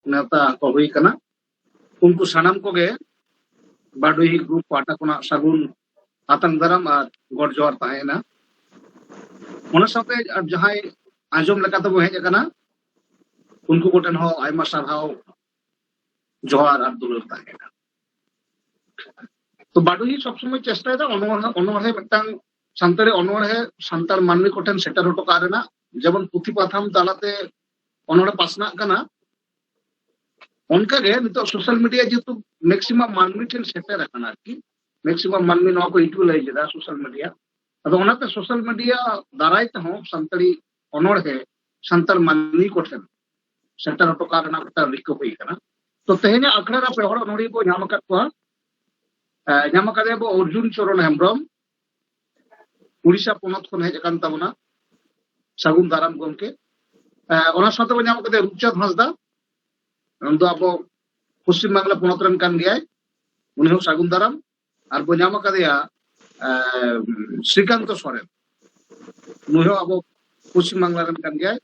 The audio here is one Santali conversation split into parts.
ᱱᱮᱣᱛᱟ ᱠᱚ ᱦᱩᱭ ᱠᱟᱱᱟ ᱩᱱᱠᱩ ᱥᱟᱱᱟᱢ ᱠᱚᱜᱮ ᱵᱟᱰᱩᱦᱤ ᱜᱨᱩᱯ ᱯᱟᱦᱴᱟ ᱠᱷᱚᱱᱟᱜ ᱥᱟᱹᱜᱩᱱ ᱟᱛᱟᱝ ᱫᱟᱨᱟᱢ ᱟᱨ ᱜᱚᱰ ᱡᱚᱦᱟᱨ ᱛᱟᱦᱮᱸᱭᱮᱱᱟ ᱚᱱᱟ ᱥᱟᱶᱛᱮ ᱟᱨ ᱡᱟᱦᱟᱸᱭ ᱟᱸᱡᱚᱢ ᱞᱮᱠᱟᱛᱮᱵᱚ ᱦᱮᱡ ᱟᱠᱟᱱᱟ ᱩᱱᱠᱩ ᱠᱚᱴᱷᱮᱱ ᱦᱚᱸ ᱟᱭᱢᱟ ᱥᱟᱨᱦᱟᱣ ᱡᱚᱦᱟᱨ ᱟᱨ ᱫᱩᱞᱟᱹᱲ ᱛᱟᱦᱮᱸᱭᱮᱱᱟ ᱛᱚ ᱵᱟᱰᱩᱦᱤ ᱥᱚᱵᱥᱚᱢᱚᱭ ᱪᱮᱥᱴᱟᱭᱮᱫᱟ ᱚᱱᱚᱬᱦᱮ ᱚᱱᱚᱬᱦᱮ ᱢᱤᱫᱴᱟᱝ ᱥᱟᱱᱛᱟᱲᱤ ᱚᱱᱚᱬᱦᱮ ᱥᱟᱱᱛᱟᱲ ᱢᱟᱹᱱᱢᱤ ᱠᱚᱴᱷᱮᱱ ᱥᱮᱴᱮᱨ ᱦᱚᱴᱚ ᱠᱟᱜ ᱨᱮᱱᱟᱜ ᱡᱮᱢᱚᱱ ᱯᱩᱛᱷᱤ ᱯᱟᱛᱷᱟᱢ ᱛᱟᱞᱟᱛᱮ ᱚᱱᱚᱲᱮ ᱯᱟᱥᱱᱟᱜ ᱠᱟᱱᱟ ᱚᱱᱠᱟᱜᱮ ᱱᱤᱛᱚᱜ ᱥᱳᱥᱟᱞ ᱢᱤᱰᱤᱭᱟ ᱡᱮᱦᱮᱛᱩ ᱢᱮᱠᱥᱤᱢᱟᱢ ᱢᱟᱹᱱᱢᱤ ᱴᱷᱮᱱ ᱥᱮᱴᱮᱨ ᱟᱠᱟᱱᱟ ᱟᱨᱠᱤ ᱢᱮᱠᱥᱤᱢᱟᱢ ᱢᱟᱹᱱᱢᱤ ᱱᱚᱣᱟ ᱠᱚ ᱤᱭᱩᱴᱤᱞᱟᱭᱤᱡᱽ ᱮᱫᱟ ᱥᱳᱥᱟᱞ ᱢᱤᱰᱤᱭᱟ ᱟᱫᱚ ᱚᱱᱟᱛᱮ ᱥᱳᱥᱟᱞ ᱢᱤᱰᱤᱭᱟ ᱫᱟᱨᱟᱭ ᱛᱮᱦᱚᱸ ᱥᱟᱱᱛᱟᱲᱤ ᱚᱱᱚᱲᱦᱮ ᱥᱟᱱᱛᱟᱲ ᱢᱟᱹᱱᱢᱤ ᱠᱚᱴᱷᱮᱱ ᱥᱮᱴᱮᱨ ᱦᱚᱴᱚ ᱠᱟᱜ ᱨᱮᱱᱟᱜ ᱢᱤᱫᱴᱟᱝ ᱨᱤᱠᱟᱹ ᱦᱩᱭ ᱟᱠᱟᱱᱟ ᱛᱚ ᱛᱮᱦᱮᱧᱟᱜ ᱟᱠᱷᱲᱟ ᱨᱮ ᱯᱮ ᱦᱚᱲ ᱚᱱᱚᱲᱦᱤᱭᱟᱹ ᱵᱚ ᱧᱟᱢ ᱟᱠᱟᱫ ᱠᱚᱣᱟ ᱧᱟᱢ ᱟᱠᱟᱫᱮᱭᱟ ᱵᱚ ᱚᱨᱡᱩᱱ ᱪᱚᱨᱚᱱ ᱦᱮᱢᱵᱨᱚᱢ ᱩᱲᱤᱥᱥᱟ ᱯᱚᱱᱚᱛ ᱠᱷᱚᱱ ᱦᱮᱡ ᱟᱠᱟᱱ ᱛᱟᱵᱚᱱᱟ ᱥᱟᱹᱜᱩᱱ ᱫᱟᱨᱟᱢ ᱜᱚᱢᱠᱮ ᱚᱱᱟ ᱥᱟᱶᱛᱮ ᱵᱚᱱ ᱧᱟᱢ ᱠᱟᱛᱮ ᱨᱩᱯᱪᱟᱸᱫᱽ ᱦᱟᱸᱥᱫᱟ ᱩᱱᱤ ᱫᱚ ᱟᱵᱚ ᱯᱚᱥᱪᱤᱢ ᱵᱟᱝᱞᱟ ᱯᱚᱱᱚᱛ ᱨᱮᱱ ᱠᱟᱱ ᱜᱮᱭᱟᱭ ᱩᱱᱤ ᱦᱚᱸ ᱥᱟᱹᱜᱩᱱ ᱫᱟᱨᱟᱢ ᱟᱨ ᱵᱚᱱ ᱧᱟᱢ ᱟᱠᱟᱫᱮᱭᱟ ᱥᱨᱤᱠᱟᱱᱛᱚ ᱥᱚᱨᱮᱱ ᱱᱩᱭ ᱦᱚᱸ ᱟᱵᱚ ᱯᱚᱥᱪᱤᱢ ᱵᱟᱝᱞᱟ ᱨᱮᱱ ᱠᱟᱱ ᱜᱮᱭᱟᱭ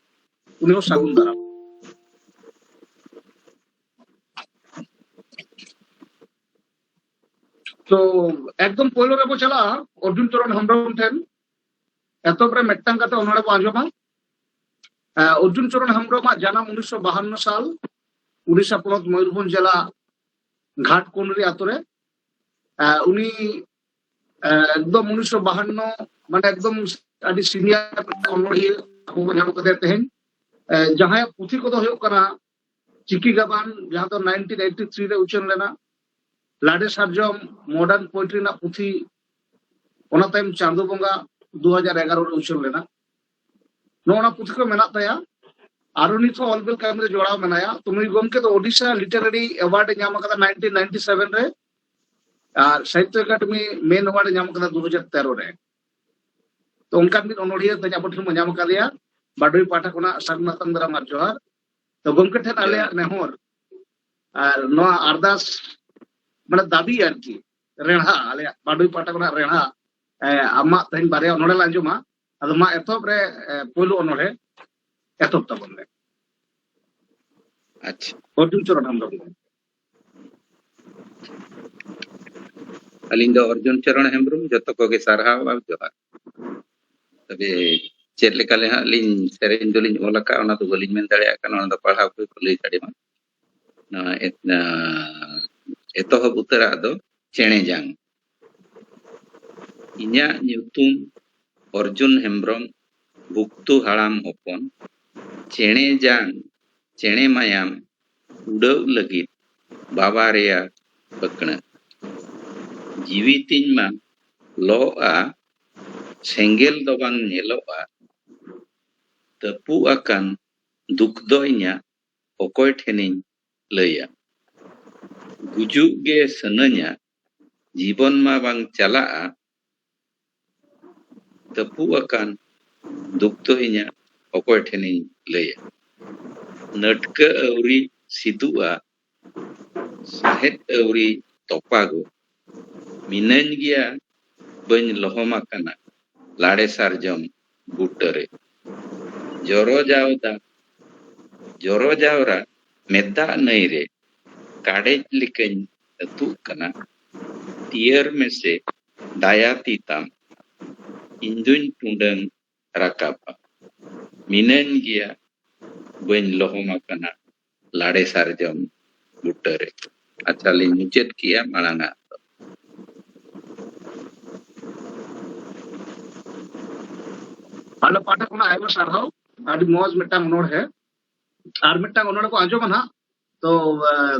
ᱩᱱᱤ ᱦᱚᱸ ᱥᱟᱹᱜᱩᱱ ᱫᱟᱨᱟᱢ ᱛᱚ ᱮᱠᱫᱚᱢ ᱯᱳᱭᱞᱳ ᱨᱮᱵᱚ ᱪᱟᱞᱟᱜᱼᱟ ᱚᱨᱡᱩᱱ ᱪᱚᱨᱚᱱ ᱦᱮᱢᱵᱨᱚᱢ ᱴᱷᱮᱱ ᱮᱛᱚᱦᱚᱵ ᱨᱮ ᱢᱤᱫᱴᱟᱝ ᱠᱟᱛᱮ ᱚᱱᱚᱲᱮ ᱵᱚ ᱟᱸᱡᱚᱢᱟ ᱚᱨᱡᱩᱱ ᱪᱚᱨᱚᱱ ᱦᱮᱢᱵᱨᱚᱢᱟᱜ ᱡᱟᱱᱟᱢ ᱩᱱᱤᱥᱥᱚ ᱵᱟᱦᱟᱱᱱᱚ ᱥᱟᱞ ᱩᱲᱤᱥᱥᱟ ᱯᱚᱱᱚᱛ ᱢᱚᱭᱩᱨᱵᱷᱚᱸᱡᱽ ᱡᱮᱞᱟ ᱜᱷᱟᱴᱠᱚᱱᱨᱤ ᱟᱛᱳ ᱨᱮ ᱩᱱᱤ ᱮᱠᱫᱚᱢ ᱩᱱᱤᱥᱥᱚ ᱵᱟᱦᱟᱱᱱᱚ ᱢᱟᱱᱮ ᱮᱠᱫᱚᱢ ᱟᱹᱰᱤ ᱥᱤᱱᱤᱭᱟᱨ ᱚᱱᱚᱲᱦᱤᱭᱟᱹ ᱟᱵᱚ ᱵᱚ ᱧᱟᱢ ᱠᱟᱫᱮᱭᱟ ᱛᱮᱦᱮᱧ ᱡᱟᱦᱟᱸᱭᱟᱜ ᱯᱩᱛᱷᱤ ᱠᱚᱫᱚ ᱦᱩᱭᱩᱜ ᱠᱟᱱᱟ ᱪᱤᱠᱤ ᱜᱟᱵᱟᱱ ᱡᱟᱦᱟᱸ ᱫᱚ 1983 ᱨᱮ ᱩᱪᱷᱟᱹᱱ ᱞᱮᱱᱟ ᱞᱟᱰᱮ ᱥᱟᱨᱡᱚᱢ ᱢᱚᱰᱟᱨᱱ ᱯᱳᱭᱮᱴᱨᱤ ᱨᱮᱱᱟᱜ ᱯᱩᱛᱷᱤ ᱚᱱᱟ ᱛᱟᱭᱚᱢ ᱪᱟᱸᱫᱚ ᱵᱚᱸᱜᱟ 2011 ᱨᱮ ᱩᱪᱷᱟᱹᱱ ᱞᱮᱱᱟ ᱱᱚᱣᱟ ᱯᱩᱛᱷᱤ ᱠᱚ ᱢᱮᱱᱟᱜ ᱛᱟᱭᱟ ᱟᱨᱚ ᱱᱤᱛ ᱦᱚᱸ ᱚᱞᱵᱮᱞ ᱠᱟᱹᱢᱤ ᱨᱮ ᱡᱚᱲᱟᱣ ᱢᱮᱱᱟᱭᱟ ᱛᱚ ᱱᱩᱭ ᱜᱚᱢᱠᱮ ᱫᱚ ᱳᱰᱤᱥᱟ ᱞᱤᱴᱟᱨᱟᱨᱤ ᱮᱣᱟᱨᱰ ᱮ ᱧᱟᱢ ᱟᱠᱟᱫᱟ 1997 ᱨᱮ ᱟᱨ ᱥᱟᱦᱤᱛᱭᱚ ᱮᱠᱟᱰᱮᱢᱤ ᱢᱮᱱ ᱮᱣᱟᱨᱰ ᱮ ᱧᱟᱢ ᱟᱠᱟᱫᱟ 2013 ᱨᱮ ᱛᱚ ᱚᱱᱠᱟᱱ ᱢᱤᱫ ᱚᱱᱚᱲᱦᱤᱭᱟᱹ ᱛᱮ ᱟᱵᱚ ᱴᱷᱮᱱ ᱵᱚᱱ ᱧᱟᱢ ᱟᱠᱟᱫᱮᱭᱟ ᱵᱟᱰᱩᱭ ᱯᱟᱦᱴᱟ ᱠᱷᱚᱱᱟᱜ ᱥᱟᱨᱱᱟᱛᱟᱝ ᱫᱟᱨᱟᱢ ᱟᱨ ᱡᱚᱦᱟᱨ ᱛᱚ ᱜᱚᱢᱠᱮ ᱴᱷᱮᱱ ᱟᱞᱮᱭᱟᱜ ᱱᱮᱦᱚᱨ ᱟᱨ ᱱᱚᱣᱟ ᱟᱨᱫᱟᱥ ᱢᱟᱱᱮ ᱫᱟᱵᱤ ᱟᱨᱠᱤ ᱨᱮᱲᱦᱟ ᱟᱞᱮᱭᱟᱜ ᱵᱟᱰᱩᱭ ᱯᱟᱦᱴᱟ ᱠᱷᱚᱱᱟᱜ ᱨᱮᱲᱦᱟ ᱟᱢᱟᱜ ᱛᱮᱦᱮᱧ ᱵᱟᱨᱭᱟ ᱚᱱᱚᱲᱦᱮ ᱞᱮ ᱟᱸᱡᱚᱢᱟ ᱟᱫᱚ ᱢᱟ ᱮᱛᱚᱦᱚᱵ ᱨᱮ ᱯᱳᱭᱞᱳ ᱚᱱᱚᱲᱦᱮ ᱮᱛᱚᱦᱚᱵ ᱛᱟᱵᱚᱱ ᱢᱮ ᱟᱪᱪᱷᱟ ᱚᱨᱡᱩᱱ ᱪᱚᱨᱚᱱ ᱦᱮᱢᱵᱨᱚᱢ ᱟᱹᱞᱤᱧ ᱫᱚ ᱚᱨᱡᱩᱱ ᱪᱚᱨᱚᱱ ᱦᱮᱢᱵᱨᱚᱢ ᱡᱚᱛᱚ ᱠᱚᱜᱮ ᱥᱟᱨᱦᱟᱣ ᱟᱨ ᱡᱚᱦᱟᱨ ᱛᱚᱵᱮ ᱪᱮᱫ ᱞᱮᱠᱟ ᱞᱮ ᱦᱟᱸᱜ ᱞᱤᱧ ᱥᱮᱨᱮᱧ ᱫᱚᱞᱤᱧ ᱚᱞ ᱟᱠᱟᱫᱼᱟ ᱚᱱᱟ ᱫᱚ ᱵᱟᱹᱞᱤᱧ ᱢᱮᱱ ᱫᱟᱲᱮᱭᱟᱜ ᱠᱟᱱᱟ ᱚᱱᱟ ᱫᱚ ᱯᱟᱲᱦᱟᱣ ᱠᱚ ᱠᱚ ᱞᱟᱹᱭ ᱫᱟᱲᱮᱭᱟᱜᱼᱟ ᱱᱚᱣᱟ ᱮᱛᱚᱦᱚᱵ ᱩᱛᱟᱹᱨᱟᱜ ᱫᱚ ᱪᱮᱬᱮ ᱡᱟᱝ ᱤᱧᱟᱹᱜ ᱧᱩᱛᱩᱢ ᱚᱨᱡᱩᱱ ᱦᱮᱢᱵᱨᱚᱢ ᱵᱩᱠᱛᱩ ᱦᱟᱲᱟᱢ ᱦᱚᱯᱚᱱ ᱪᱮᱬᱮ ᱡᱟᱝ ᱪᱮᱬᱮ ᱢᱟᱭᱟᱢ ᱩᱰᱟᱹᱣ ᱞᱟᱹᱜᱤᱫ ᱵᱟᱵᱟ ᱨᱮᱭᱟᱜ ᱟᱹᱠᱲᱟᱹᱜ ᱡᱤᱣᱤ ᱛᱤᱧ ᱢᱟ ᱞᱚᱜᱼᱟ ᱥᱮᱸᱜᱮᱞ ᱫᱚ ᱵᱟᱝ ᱧᱮᱞᱚᱜᱼᱟ ᱛᱟᱹᱯᱩᱜ ᱟᱠᱟᱱ ᱫᱩᱠ ᱫᱚ ᱤᱧᱟᱹᱜ ᱚᱠᱚᱭ ᱴᱷᱮᱱᱤᱧ ᱞᱟᱹᱭᱟ ᱜᱩᱡᱩᱜ ᱜᱮ ᱥᱟᱱᱟᱹᱧᱟ ᱡᱤᱵᱚᱱ ᱢᱟ ᱵᱟᱝ ᱪᱟᱞᱟᱜᱼᱟ ᱛᱟᱹᱯᱩᱜ ᱟᱠᱟᱱ ᱫᱩᱠ ᱫᱚ ᱤᱧᱟᱹᱜ ᱚᱠᱚᱭ ᱴᱷᱮᱱᱤᱧ ᱞᱟᱹᱭᱟ ᱱᱟᱹᱴᱠᱟᱹ ᱟᱹᱣᱨᱤ ᱥᱤᱫᱩᱜᱼᱟ ᱥᱟᱦᱮᱫ ᱟᱹᱣᱨᱤ ᱛᱚᱯᱟᱜᱚᱜ ᱢᱤᱱᱟᱹᱧ ᱜᱮᱭᱟ ᱵᱟᱹᱧ ᱞᱚᱦᱚᱢ ᱟᱠᱟᱱᱟ ᱞᱟᱲᱮ ᱥᱟᱨᱡᱚᱢ ᱵᱩᱴᱟᱹᱨᱮ ᱡᱚᱨᱚᱡᱟᱣᱫᱟ ᱡᱚᱨᱚᱡᱟᱣᱨᱟ ᱢᱮᱛᱟᱜ ᱱᱟᱹᱭ ᱨᱮ ᱠᱟᱰᱮᱡ ᱞᱮᱠᱟᱧ ᱟᱹᱛᱩᱜ ᱠᱟᱱᱟ ᱛᱤᱭᱟᱹᱨ ᱢᱮᱥᱮ ᱫᱟᱭᱟ ᱛᱤ ᱛᱟᱢ ᱤᱧ ᱫᱩᱧ ᱴᱩᱸᱰᱟᱹᱝ ᱨᱟᱠᱟᱵᱟ ᱢᱤᱱᱟᱹᱧ ᱜᱮᱭᱟ ᱵᱟᱹᱧ ᱞᱚᱦᱚᱢ ᱟᱠᱟᱱᱟ ᱞᱟᱲᱮ ᱥᱟᱨᱡᱚᱢ ᱵᱩᱴᱟᱹ ᱨᱮ ᱟᱪᱪᱷᱟ ᱞᱤᱧ ᱢᱩᱪᱟᱹᱫ ᱠᱮᱜᱼᱟ ᱢᱟᱲᱟᱝ ᱟᱜ ᱫᱚ ᱟᱞᱮ ᱯᱟᱦᱴᱟ ᱠᱷᱚᱱᱟᱜ ᱟᱭᱢᱟ ᱥᱟᱨᱦᱟᱣ ᱟᱹᱰᱤ ᱢᱚᱡᱽ ᱢᱤᱫᱴᱟᱝ ᱚᱱᱚᱬᱦᱮ ᱟᱨ ᱢᱤᱫᱴᱟᱝ ᱚᱱᱚᱬᱦᱮ ᱠᱚ ᱟᱸᱡᱚᱢᱟ ᱱᱟᱦᱟᱜ ᱛᱚ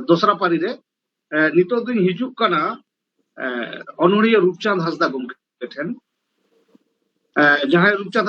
ᱫᱚᱥᱨᱟ ᱯᱟᱹᱨᱤ ᱨᱮ ᱱᱤᱛᱚᱜ ᱫᱚᱧ ᱦᱤᱡᱩᱜ ᱠᱟᱱᱟ ᱚᱱᱚᱬᱦᱤᱭᱟᱹ ᱨᱩᱯᱪᱟᱸᱫᱽ ᱦᱟᱸᱥᱫᱟ ᱜᱚᱢᱠᱮ ᱴᱷᱮᱱ ᱡᱟᱦᱟᱸᱭ ᱨᱩᱯᱪᱟᱸᱫᱽ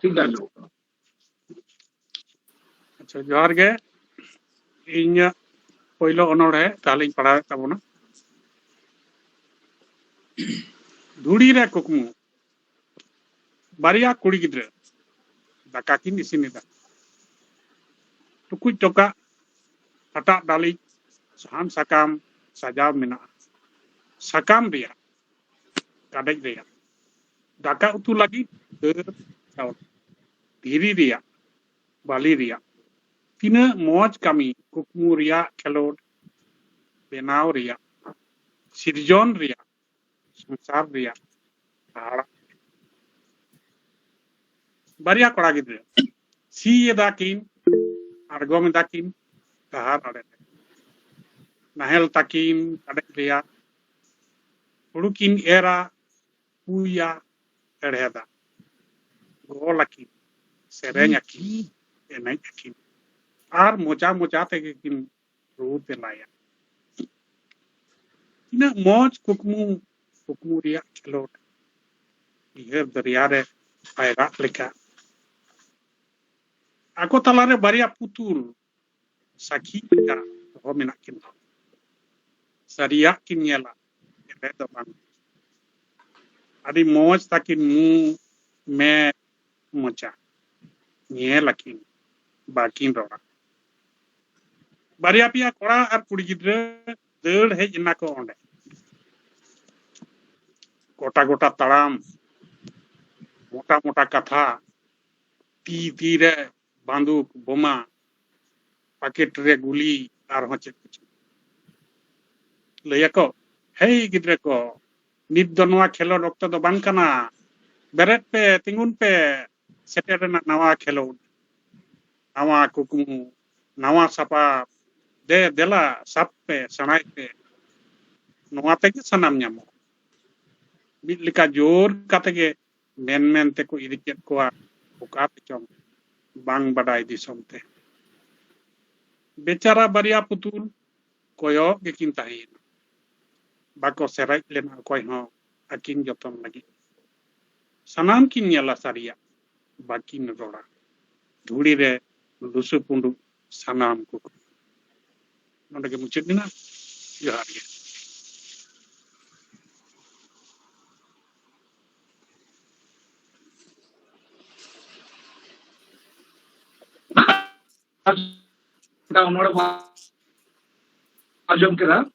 ᱴᱷᱤᱠ ᱜᱮ ᱟᱸᱡᱚᱢᱚᱜ ᱠᱟᱱᱟ ᱟᱪᱪᱷᱟ ᱡᱚᱦᱟᱨ ᱜᱮ ᱤᱧᱟᱹᱜ ᱯᱳᱭᱞᱳ ᱚᱱᱚᱲᱦᱮ ᱛᱟᱦᱞᱮᱧ ᱯᱟᱲᱦᱟᱣᱮᱫ ᱛᱟᱵᱚᱱᱟ ᱫᱷᱩᱲᱤ ᱨᱮ ᱠᱩᱠᱢᱩ ᱵᱟᱨᱭᱟ ᱠᱩᱲᱤ ᱜᱤᱫᱽᱨᱟᱹ ᱫᱟᱠᱟ ᱠᱤᱱ ᱤᱥᱤᱱᱮᱫᱟ ᱴᱩᱠᱩᱡ ᱴᱚᱠᱟᱜ ᱦᱟᱴᱟᱜ ᱰᱟᱹᱞᱤᱡ ᱥᱟᱦᱟᱱ ᱥᱟᱠᱟᱢ ᱥᱟᱡᱟᱣ ᱢᱮᱱᱟᱜᱼᱟ ᱥᱟᱠᱟᱢ ᱨᱮᱭᱟᱜ ᱠᱟᱰᱮᱡ ᱨᱮᱭᱟᱜ ᱫᱟᱠᱟ ᱩᱛᱩ ᱞᱟᱹᱜᱤᱫ ᱫᱟᱹᱞ ᱪᱟᱣᱞᱮ ᱫᱷᱤᱨᱤ ᱨᱮᱭᱟᱜ ᱵᱟᱹᱞᱤ ᱨᱮᱭᱟᱜ ᱛᱤᱱᱟᱹᱜ ᱢᱚᱡᱽ ᱠᱟᱹᱢᱤ ᱠᱩᱠᱢᱩ ᱨᱮᱭᱟᱜ ᱠᱷᱮᱞᱳᱰ ᱵᱮᱱᱟᱣ ᱨᱮᱭᱟᱜ ᱥᱤᱨᱡᱚᱱ ᱨᱮᱭᱟᱜ ᱥᱚᱝᱥᱟᱨ ᱨᱮᱭᱟᱜ ᱦᱟᱦᱟᱲᱟᱜ ᱵᱟᱨᱭᱟ ᱠᱚᱲᱟ ᱜᱤᱫᱽᱨᱟᱹ ᱥᱤ ᱮᱫᱟ ᱠᱤᱱ ᱟᱬᱜᱚᱢ ᱮᱫᱟ ᱠᱤᱱ ᱰᱟᱦᱟᱨ ᱟᱲᱮ ᱨᱮ ᱱᱟᱦᱮᱞ ᱛᱟᱹᱠᱤᱱ ᱠᱟᱰᱮᱡ ᱨᱮᱭᱟᱜ ᱦᱩᱲᱩ ᱠᱤᱱ ᱮᱨᱟ ᱯᱩᱭᱟ ᱦᱮᱲᱦᱮᱫᱟ ᱜᱚᱞ ᱟᱹᱠᱤᱱ ᱥᱮᱨᱮᱧ ᱟᱹᱠᱤᱱ ᱮᱱᱮᱡ ᱟᱹᱠᱤᱱ ᱟᱨ ᱢᱚᱡᱟ ᱢᱚᱡᱟ ᱛᱮᱜᱮ ᱠᱤᱱ ᱨᱩ ᱛᱮᱞᱟᱭᱟ ᱛᱤᱱᱟᱹᱜ ᱢᱚᱡᱽ ᱠᱩᱠᱢᱩ ᱠᱩᱠᱢᱩ ᱨᱮᱭᱟᱜ ᱠᱷᱮᱞᱳᱰ ᱩᱭᱦᱟᱹᱨ ᱫᱚᱨᱭᱟ ᱨᱮ ᱯᱟᱭᱨᱟᱜ ᱞᱮᱠᱟ ᱟᱠᱚ ᱛᱟᱞᱟᱨᱮ ᱵᱟᱨᱭᱟ ᱯᱩᱛᱩᱞ ᱥᱟᱹᱠᱷᱤ ᱞᱮᱠᱟ ᱫᱚᱦᱚ ᱢᱮᱱᱟᱜ ᱠᱤᱱ ᱛᱟᱢᱟ᱾ ᱥᱟᱹᱨᱤᱭᱟᱜ ᱠᱤᱱ ᱧᱮᱞᱟ, ᱮᱲᱮ ᱫᱚ ᱵᱟᱝ᱾ ᱟᱹᱰᱤ ᱢᱚᱡᱽ ᱛᱟᱹᱠᱤᱱ ᱢᱩ, ᱢᱮᱫ, ᱢᱚᱪᱟ᱾ ᱧᱮᱞ ᱟᱹᱠᱤᱱ, ᱵᱟᱹᱠᱤᱱ ᱨᱚᱲᱟ᱾ ᱵᱟᱨᱭᱟ ᱯᱮᱭᱟ ᱠᱚᱲᱟ ᱟᱨ ᱠᱩᱲᱤ ᱜᱤᱫᱽᱨᱟᱹ ᱫᱟᱹᱲ ᱦᱮᱡ ᱮᱱᱟ ᱠᱚ ᱚᱸᱰᱮ᱾ ᱜᱚᱴᱟ ᱜᱚᱴᱟ ᱛᱟᱲᱟᱢ, ᱢᱚᱴᱟ ᱢᱚᱴᱟ ᱠᱟᱛᱷᱟ, ᱛᱤ ᱛᱤ ᱨᱮ ᱵᱟᱱᱫᱩᱠ ᱵᱚᱢᱟ ᱯᱟᱠᱮᱴ ᱨᱮ ᱜᱩᱞᱤ ᱟᱨᱦᱚᱸ ᱪᱮᱫ ᱠᱚᱪᱚᱝ ᱞᱟᱹᱭ ᱟᱠᱚ ᱦᱮᱭ ᱜᱤᱫᱽᱨᱟᱹ ᱠᱚ ᱱᱤᱛ ᱫᱚ ᱱᱚᱣᱟ ᱠᱷᱮᱞᱳᱰ ᱚᱠᱛᱚ ᱫᱚ ᱵᱟᱝ ᱠᱟᱱᱟ ᱵᱮᱨᱮᱫ ᱯᱮ ᱛᱤᱸᱜᱩᱱ ᱯᱮ ᱥᱮᱴᱮᱨ ᱨᱮᱱᱟᱜ ᱱᱟᱣᱟ ᱠᱷᱮᱞᱳᱰ ᱱᱟᱣᱟ ᱠᱩᱠᱢᱩ ᱱᱟᱣᱟ ᱥᱟᱯᱟᱵ ᱫᱮ ᱫᱮᱞᱟ ᱥᱟᱵ ᱯᱮ ᱥᱮᱬᱟᱭ ᱯᱮ ᱱᱚᱣᱟ ᱛᱮᱜᱮ ᱥᱟᱱᱟᱢ ᱧᱟᱢᱚᱜᱼᱟ ᱢᱤᱫ ᱞᱮᱠᱟ ᱡᱳᱨ ᱠᱟᱛᱮ ᱜᱮ ᱢᱮᱱ ᱢᱮᱱ ᱛᱮᱠᱚ ᱤᱫᱤ ᱠᱮᱫ ᱠᱚᱣᱟ ᱚᱠᱟ ᱛᱮᱪᱚᱝ ᱵᱟᱝ ᱵᱟᱰᱟᱭ ᱫᱤᱥᱚᱢ ᱛᱮ᱾ ᱵᱮᱪᱟᱨᱟ ᱵᱟᱨᱭᱟ ᱯᱩᱛᱩᱞ ᱠᱚᱭᱚᱜ ᱜᱮᱠᱤᱱ ᱛᱟᱦᱮᱸᱭᱮᱱᱟ᱾ ᱵᱟᱠᱚ ᱥᱮᱨᱮᱡ ᱞᱮᱱᱟ ᱚᱠᱚᱭ ᱦᱚᱸ ᱟᱹᱠᱤᱱ ᱡᱚᱛᱚᱱ ᱞᱟᱹᱜᱤᱫ᱾ ᱥᱟᱱᱟᱢ ᱠᱤᱱ ᱧᱮᱞᱟ ᱥᱟᱹᱨᱤᱭᱟᱜ ᱵᱟᱹᱠᱤᱱ ᱨᱚᱲᱟ᱾ ᱫᱷᱩᱲᱤ ᱨᱮ ᱞᱩᱥᱩ ᱯᱩᱸᱰᱩᱜ ᱥᱟᱱᱟᱢ ᱠᱚ ᱱᱚᱰᱮ ᱜᱮ ᱢᱩᱪᱟᱹᱫ ᱮᱱᱟ ᱡᱚᱦᱟᱨ ᱜᱮ ᱚᱱᱚᱲ ᱟᱸᱡᱚᱢ ᱠᱮᱫᱟ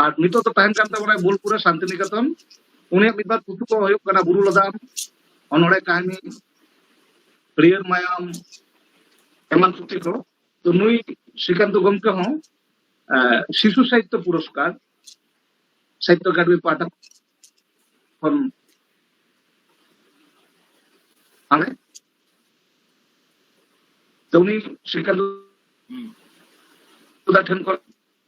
ᱟᱨ ᱱᱤᱛᱚᱜ ᱫᱚ ᱛᱟᱦᱮᱱ ᱠᱟᱱ ᱛᱟᱵᱚᱱᱟᱭ ᱵᱳᱞᱯᱩᱨ ᱨᱮ ᱥᱟᱱᱛᱤᱱᱤᱠᱮᱛᱚᱱ ᱩᱱᱤᱭᱟᱜ ᱢᱤᱫ ᱵᱟᱨ ᱯᱩᱛᱷᱤ ᱠᱚ ᱦᱩᱭᱩᱜ ᱠᱟᱱᱟ ᱵᱩᱨᱩ ᱞᱚᱫᱟᱢ ᱚᱱᱚᱲᱮ ᱠᱟᱹᱦᱱᱤ ᱦᱟᱹᱨᱭᱟᱹᱲ ᱢᱟᱭᱟᱢ ᱮᱢᱟᱱ ᱯᱩᱛᱷᱤ ᱠᱚ ᱛᱚ ᱱᱩᱭ ᱥᱨᱤᱠᱟᱱᱛ ᱜᱚᱢᱠᱮ ᱦᱚᱸ ᱥᱤᱥᱩ ᱥᱟᱦᱤᱛᱛᱚ ᱯᱩᱨᱚᱥᱠᱟᱨ ᱥᱟᱦᱤᱛᱛᱚ ᱮᱠᱟᱰᱮᱢᱤ ᱯᱟᱦᱴᱟ ᱠᱷᱚᱱ ᱟᱞᱮ ᱛᱚ ᱩᱱᱤ ᱥᱨᱤᱠᱟᱱᱛ ᱴᱷᱮᱱ ᱠᱷᱚᱱ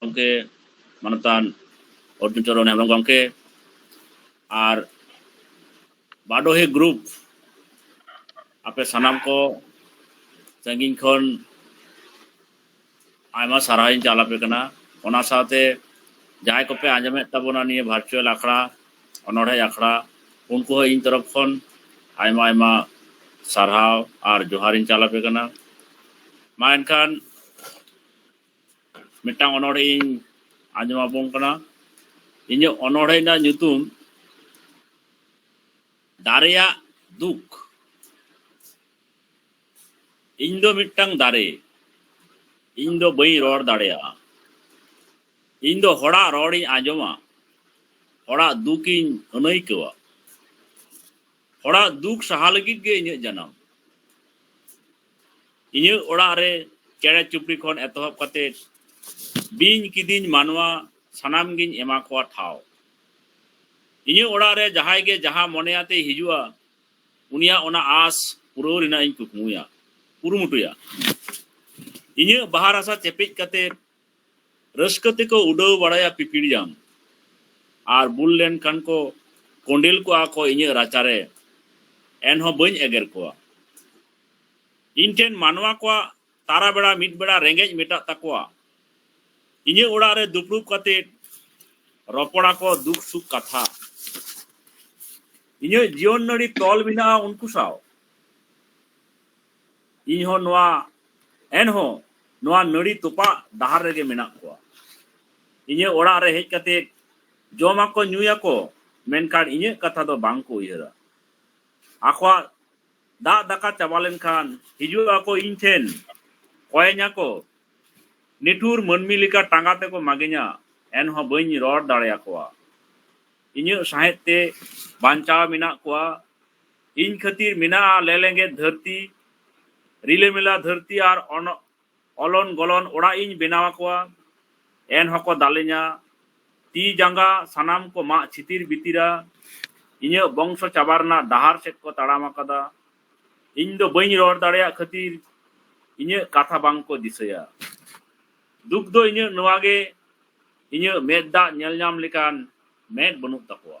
ᱜᱚᱢᱠᱮ ᱢᱟᱱᱚᱛᱟᱱ ᱚᱨᱡᱩᱱ ᱪᱚᱨᱚᱱ ᱦᱮᱢᱵᱨᱚᱢ ᱜᱚᱢᱠᱮ ᱟᱨ ᱵᱟᱰᱚᱦᱮ ᱜᱨᱩᱯ ᱟᱯᱮ ᱥᱟᱱᱟᱢ ᱠᱚ ᱥᱟᱺᱜᱤᱧ ᱠᱷᱚᱱ ᱟᱭᱢᱟ ᱥᱟᱨᱦᱟᱣ ᱤᱧ ᱪᱟᱞ ᱟᱯᱮ ᱠᱟᱱᱟ ᱚᱱᱟ ᱥᱟᱶᱛᱮ ᱡᱟᱦᱟᱸᱭ ᱠᱚᱯᱮ ᱟᱸᱡᱚᱢᱮᱫ ᱛᱟᱵᱚᱱᱟ ᱱᱤᱭᱟᱹ ᱵᱷᱟᱨᱪᱩᱣᱟᱞ ᱟᱠᱷᱲᱟ ᱚᱱᱚᱲᱦᱮᱸ ᱟᱠᱷᱲᱟ ᱩᱱᱠᱩ ᱦᱚᱸ ᱤᱧ ᱛᱚᱨᱚᱯ ᱠᱷᱚᱱ ᱟᱭᱢᱟ ᱟᱭᱢᱟ ᱥᱟᱨᱦᱟᱣ ᱟᱨ ᱡᱚᱦᱟᱨᱤᱧ ᱪᱟᱞ ᱟᱯᱮ ᱠᱟᱱᱟ ᱢᱟ ᱮᱱᱠᱷᱟᱱ ᱢᱤᱫᱴᱟᱝ ᱚᱱᱚᱬᱦᱮᱧ ᱟᱸᱡᱚᱢ ᱟᱵᱚᱱ ᱠᱟᱱᱟ ᱤᱧᱟᱹᱜ ᱚᱱᱚᱬᱦᱮ ᱨᱮᱱᱟᱜ ᱧᱩᱛᱩᱢ ᱫᱟᱨᱮᱭᱟᱜ ᱫᱩᱠ ᱤᱧ ᱫᱚ ᱢᱤᱫᱴᱟᱝ ᱫᱟᱨᱮ ᱤᱧ ᱫᱚ ᱵᱟᱹᱧ ᱨᱚᱲ ᱫᱟᱲᱮᱭᱟᱜᱼᱟ ᱤᱧ ᱫᱚ ᱦᱚᱲᱟᱜ ᱨᱚᱲᱤᱧ ᱟᱸᱡᱚᱢᱟ ᱦᱚᱲᱟᱜ ᱫᱩᱠᱤᱧ ᱟᱹᱱᱟᱹᱭᱠᱟᱹᱣᱟ ᱚᱲᱟᱜ ᱫᱩᱠ ᱥᱟᱦᱟ ᱞᱟᱹᱜᱤᱫ ᱜᱮ ᱤᱧᱟᱹᱜ ᱡᱟᱱᱟᱢ ᱤᱧᱟᱹᱜ ᱚᱲᱟᱜ ᱨᱮ ᱪᱮᱬᱮ ᱪᱩᱯᱲᱤ ᱠᱷᱚᱱ ᱮᱛᱚᱦᱚᱵ ᱠᱟᱛᱮ ᱵᱤᱧ ᱠᱤᱫᱤᱧ ᱢᱟᱱᱣᱟ ᱥᱟᱱᱟᱢ ᱜᱤᱧ ᱮᱢᱟ ᱠᱚᱣᱟ ᱴᱷᱟᱶ ᱤᱧᱟᱹᱜ ᱚᱲᱟᱜ ᱨᱮ ᱡᱟᱦᱟᱸᱭ ᱜᱮ ᱡᱟᱦᱟᱸ ᱢᱚᱱᱮ ᱟᱛᱮ ᱦᱤᱡᱩᱜᱼᱟ ᱩᱱᱤᱭᱟᱜ ᱚᱱᱟ ᱟᱥ ᱯᱩᱨᱟᱹᱣ ᱨᱮᱱᱟᱜ ᱤᱧ ᱠᱩᱠᱢᱩᱭᱟ ᱠᱩᱨᱩᱢᱩᱴᱩᱭᱟ ᱤᱧᱟᱹᱜ ᱵᱟᱦᱟ ᱨᱟᱥᱟ ᱪᱮᱯᱮᱡ ᱠᱟᱛᱮ ᱨᱟᱹᱥᱠᱟᱹ ᱛᱮᱠᱚ ᱩᱰᱟᱹᱣ ᱵᱟᱲᱟᱭᱟ ᱯᱤᱯᱤᱲᱡᱟᱝ ᱟᱨ ᱵᱩᱞ ᱞᱮᱱ ᱠᱷᱟᱱ ᱠᱚ ᱠᱚᱸᱰᱮᱞ ᱠᱚᱜᱼᱟ ᱠᱚ ᱤᱧᱟᱹᱜ ᱨᱟᱪᱟ ᱨᱮ ᱮᱱᱦᱚᱸ ᱵᱟᱹᱧ ᱮᱜᱮᱨ ᱠᱚᱣᱟ ᱤᱧ ᱴᱷᱮᱱ ᱢᱟᱱᱣᱟ ᱠᱚᱣᱟᱜ ᱛᱟᱨᱟ ᱵᱮᱲᱟ ᱢᱤᱫ ᱵᱮᱲᱟ ᱨᱮᱸᱜᱮᱡ ᱢᱮᱴᱟᱜ ᱛᱟᱠᱚᱣᱟ ᱤᱧᱟᱹᱜ ᱚᱲᱟᱜ ᱨᱮ ᱫᱩᱯᱲᱩᱵ ᱠᱟᱛᱮ ᱨᱚᱯᱚᱲᱟ ᱠᱚ ᱫᱩᱠ ᱥᱩᱠ ᱠᱟᱛᱷᱟ ᱤᱧᱟᱹᱜ ᱡᱤᱭᱚᱱ ᱱᱟᱹᱲᱤ ᱛᱚᱞ ᱢᱮᱱᱟᱜᱼᱟ ᱩᱱᱠᱩ ᱥᱟᱶ ᱤᱧ ᱦᱚᱸ ᱱᱚᱣᱟ ᱮᱱᱦᱚᱸ ᱱᱚᱣᱟ ᱱᱟᱹᱲᱤ ᱛᱚᱯᱟᱜ ᱰᱟᱦᱟᱨ ᱨᱮᱜᱮ ᱢᱮᱱᱟᱜ ᱠᱚᱣᱟ ᱤᱧᱟᱹᱜ ᱚᱲᱟᱜ ᱨᱮ ᱦᱮᱡ ᱠᱟᱛᱮ ᱡᱚᱢᱟᱠᱚ ᱧᱩᱭᱟᱠᱚ ᱢᱮᱱᱠᱷᱟᱱ ᱤᱧᱟᱹᱜ ᱠᱟᱛᱷᱟ ᱫᱚ ᱵᱟᱝ ᱠᱚ ᱩᱭᱦᱟᱹᱨᱟ ᱟᱠᱚᱣᱟᱜ ᱫᱟᱜ ᱫᱟᱠᱟ ᱪᱟᱵᱟ ᱞᱮᱱᱠᱷᱟᱱ ᱦᱤᱡᱩᱜ ᱟᱠᱚ ᱤᱧ ᱴᱷᱮᱱ ᱠᱚᱭᱮᱧᱟ ᱠᱚ ᱱᱤᱴᱷᱩᱨ ᱢᱟᱹᱱᱢᱤ ᱞᱮᱠᱟ ᱴᱟᱸᱜᱟ ᱛᱮᱠᱚ ᱢᱟᱜᱮᱧᱟ ᱮᱱᱦᱚᱸ ᱵᱟᱹᱧ ᱨᱚᱲ ᱫᱟᱲᱮᱭᱟᱠᱚᱣᱟ ᱤᱧᱟᱹᱜ ᱥᱟᱦᱮᱫ ᱛᱮ ᱵᱟᱧᱪᱟᱣ ᱢᱮᱱᱟᱜ ᱠᱚᱣᱟ ᱤᱧ ᱠᱷᱟᱹᱛᱤᱨ ᱢᱮᱱᱟᱜᱼᱟ ᱞᱮᱞᱮᱸᱜᱮᱫ ᱫᱷᱟᱹᱨᱛᱤ ᱨᱤᱞᱟᱹᱢᱤᱞᱟ ᱫᱷᱟᱹᱨᱛᱤ ᱟᱨ ᱚᱞᱚᱱ ᱜᱚᱞᱚᱱ ᱚᱲᱟᱜ ᱤᱧ ᱵᱮᱱᱟᱣ ᱟᱠᱚᱣᱟ ᱮᱱ ᱦᱚᱸᱠᱚ ᱫᱟᱞᱮᱧᱟ ᱛᱤ ᱡᱟᱸᱜᱟ ᱥᱟᱱᱟᱢ ᱠᱚ ᱢᱟᱜ ᱪᱷᱤᱛᱤᱨ ᱵᱤᱛᱤᱨᱟ ᱤᱧᱟᱹᱜ ᱵᱚᱝᱥᱚ ᱪᱟᱵᱟ ᱨᱮᱱᱟᱜ ᱰᱟᱦᱟᱨ ᱥᱮᱫ ᱠᱚ ᱛᱟᱲᱟᱢ ᱟᱠᱟᱫᱟ ᱤᱧ ᱫᱚ ᱵᱟᱹᱧ ᱨᱚᱲ ᱫᱟᱲᱮᱭᱟᱜ ᱠᱷᱟᱹᱛᱤᱨ ᱤᱧᱟᱹᱜ ᱠᱟᱛᱷᱟ ᱵᱟᱝ ᱠᱚ ᱫᱤᱥᱟᱹᱭᱟ ᱫᱩᱠ ᱫᱚ ᱤᱧᱟᱹᱜ ᱱᱚᱣᱟ ᱜᱮ ᱤᱧᱟᱹᱜ ᱢᱮᱫ ᱫᱟᱜ ᱧᱮᱞ ᱧᱟᱢ ᱞᱮᱠᱟᱱ ᱢᱮᱫ ᱵᱟᱹᱱᱩᱜ ᱛᱟᱠᱚᱣᱟ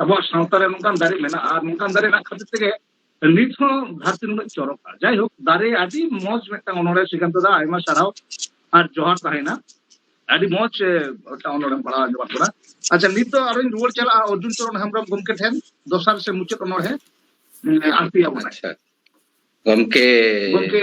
ᱟᱵᱚᱣᱟᱜ ᱥᱟᱶᱛᱟ ᱨᱮ ᱱᱚᱝᱠᱟᱱ ᱫᱟᱨᱮ ᱢᱮᱱᱟᱜᱼᱟ ᱟᱨ ᱱᱚᱝᱠᱟᱱ ᱫᱟᱨᱮ ᱨᱮᱱᱟᱜ ᱠᱷᱟᱹᱛᱤᱨ ᱛᱮᱜᱮ ᱱᱤᱛ ᱦᱚᱸ ᱫᱷᱟᱹᱨᱛᱤ ᱱᱩᱱᱟᱹᱜ ᱪᱚᱨᱚᱠᱟ ᱡᱟᱭᱦᱳᱠ ᱫᱟᱨᱮ ᱟᱹᱰᱤ ᱢᱚᱡᱽ ᱢᱤᱫᱴᱟᱝ ᱚᱱᱚᱲᱦᱮ ᱥᱨᱤᱠᱟᱱᱛ ᱫᱟ ᱟᱭᱢᱟ ᱥᱟᱨᱦᱟᱣ ᱟᱨ ᱡᱚᱦᱟᱨ ᱛᱟᱦᱮᱱᱟ ᱟᱹᱰᱤ ᱢᱚᱡᱽ ᱢᱤᱫᱴᱟᱝ ᱚᱱᱚᱲᱦᱮᱢ ᱯᱟᱲᱦᱟᱣ ᱟᱸᱡᱚᱢᱟᱫ ᱵᱚᱱᱟ ᱟᱪᱪᱷᱟ ᱱᱤᱛ ᱫᱚ ᱟᱨᱚᱧ ᱨᱩᱣᱟᱹᱲ ᱪᱟᱞᱟᱜᱼᱟ ᱚᱨᱡᱩᱱ ᱪᱚᱨᱚᱱ ᱦᱮᱢᱵᱨᱚᱢ ᱜᱚᱢᱠᱮ ᱴᱷᱮᱱ ᱫᱚᱥᱟᱨ ᱥᱮ ᱢᱩᱪᱟᱹᱫ ᱚᱱᱚᱲᱦᱮ ᱟᱬᱛᱤᱭᱟᱵᱚᱱᱟ ᱟᱪᱪᱷᱟ ᱜᱚᱢᱠᱮ ᱜᱚᱢᱠᱮ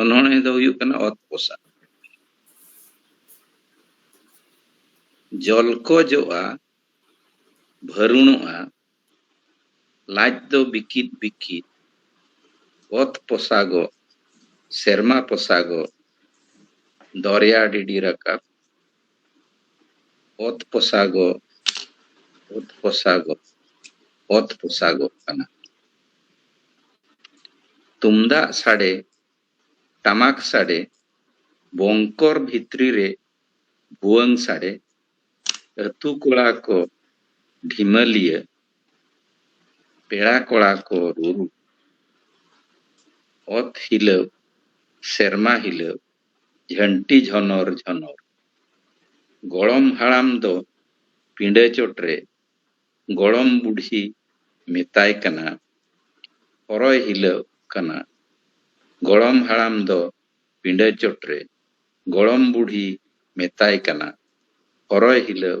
ᱚᱱᱚᱬᱦᱮ ᱫᱚ ᱦᱩᱭᱩᱜ ᱠᱟᱱᱟ ᱚᱛ ᱯᱚᱥᱟᱜ ᱡᱚᱞ ᱠᱚ ᱡᱚᱜᱼᱟ ᱵᱷᱟᱹᱨᱩᱱᱚᱜᱼᱟ ᱞᱟᱡ ᱫᱚ ᱵᱤᱠᱤᱫ ᱵᱤᱠᱤᱫ ᱚᱛ ᱯᱚᱥᱟᱜᱚᱜ ᱥᱮᱨᱢᱟ ᱯᱚᱥᱟᱜᱚᱜ ᱫᱚᱨᱭᱟ ᱰᱤᱰᱤ ᱨᱟᱠᱟᱵ ᱚᱛ ᱯᱚᱥᱟᱜᱚᱜ, ᱚᱛ ᱯᱚᱥᱟᱜᱚᱜ, ᱚᱛ ᱯᱚᱥᱟᱜᱚᱜ ᱠᱟᱱᱟ᱾ ᱛᱩᱢᱫᱟᱜ ᱥᱟᱰᱮ, ᱴᱟᱢᱟᱠ ᱥᱟᱰᱮ, ᱵᱚᱝᱠᱚᱨ ᱵᱷᱤᱛᱨᱤ ᱨᱮ ᱵᱷᱩᱣᱟᱹᱝ ᱥᱟᱰᱮ, ᱟᱹᱛᱩ ᱠᱚᱲᱟ ᱠᱚ ᱰᱷᱤᱢᱟᱹᱞᱤᱭᱟᱹ, ᱯᱮᱲᱟ ᱠᱚᱲᱟ ᱠᱚ ᱨᱩᱨᱩ, ᱚᱛ ᱦᱤᱞᱟᱹᱣ, ᱥᱮᱨᱢᱟ ᱦᱤᱞᱟᱹᱣ, ᱡᱷᱟᱹᱱᱴᱤ ᱡᱷᱚᱱᱚᱨ ᱡᱷᱚᱱᱚᱨ᱾ ᱜᱚᱲᱚᱢ ᱦᱟᱲᱟᱢ ᱫᱚ ᱯᱤᱸᱰᱟᱹ ᱪᱚᱴᱨᱮ ᱜᱚᱲᱚᱢ ᱵᱩᱰᱷᱤ ᱢᱮᱛᱟᱭ ᱠᱟᱱᱟ ᱦᱚᱨᱚᱭ ᱦᱤᱞᱟᱹᱜ ᱠᱟᱱᱟ᱾ ᱜᱚᱲᱚᱢ ᱦᱟᱲᱟᱢ ᱫᱚ ᱯᱤᱸᱰᱟᱹ ᱪᱚᱴᱨᱮ ᱜᱚᱲᱚᱢ ᱵᱩᱰᱷᱤ ᱢᱮᱛᱟᱭ ᱠᱟᱱᱟ ᱦᱚᱨᱚᱭ ᱦᱤᱞᱟᱹᱜ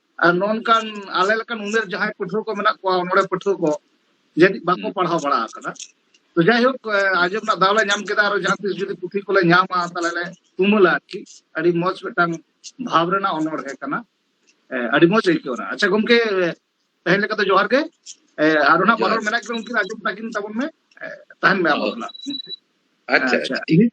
ᱟᱨ ᱱᱚᱝᱠᱟᱱ ᱟᱞᱮ ᱞᱮᱠᱟᱱ ᱩᱢᱮᱨ ᱡᱟᱦᱟᱸᱭ ᱯᱟᱹᱴᱷᱩᱣᱟᱹ ᱠᱚ ᱢᱮᱱᱟᱜ ᱠᱚᱣᱟ ᱚᱱᱚᱲᱦᱮ ᱯᱟᱹᱴᱷᱩᱣᱟᱹ ᱠᱚ ᱡᱟᱹᱱᱤᱡ ᱵᱟᱠᱚ ᱯᱟᱲᱦᱟᱣ ᱵᱟᱲᱟ ᱟᱠᱟᱫᱟ ᱛᱚ ᱡᱟᱭᱦᱳᱠ ᱟᱸᱡᱚᱢ ᱨᱮᱱᱟᱜ ᱫᱟᱣ ᱞᱮ ᱧᱟᱢ ᱠᱮᱫᱟ ᱟᱨ ᱡᱟᱦᱟᱸ ᱛᱤᱥ ᱡᱩᱫᱤ ᱯᱩᱛᱷᱤ ᱠᱚᱞᱮ ᱧᱟᱢᱟ ᱛᱟᱦᱞᱮ ᱞᱮ ᱛᱩᱢᱟᱹᱞᱟ ᱟᱨᱠᱤ ᱟᱹᱰᱤ ᱢᱚᱡᱽ ᱢᱤᱫᱴᱟᱝ ᱵᱷᱟᱵᱽ ᱨᱮᱱᱟᱜ ᱚᱱᱚᱲᱦᱮ ᱠᱟᱱᱟ ᱟᱹᱰᱤ ᱢᱚᱡᱽ ᱟᱹᱭᱠᱟᱹᱣ ᱮᱱᱟ ᱟᱪᱪᱷᱟ ᱜᱚᱢᱠᱮ ᱛᱮᱦᱮᱧ ᱞᱮᱠᱟ ᱫᱚ ᱡᱚᱦᱟᱨ ᱜᱮ ᱟᱨ ᱚᱱᱟ ᱢᱟᱱᱚᱨ ᱢᱮᱱᱟᱜ ᱠᱤᱱᱟ ᱩᱱᱠᱤᱱ ᱟᱸᱡᱚᱢ ᱛᱟᱹᱠᱤᱱ ᱛᱟᱵᱚᱱ ᱢᱮ ᱛᱟᱦᱮᱱ ᱢᱮ ᱟᱵᱚ ᱟᱪᱪᱷᱟ ᱟᱪᱪᱷᱟ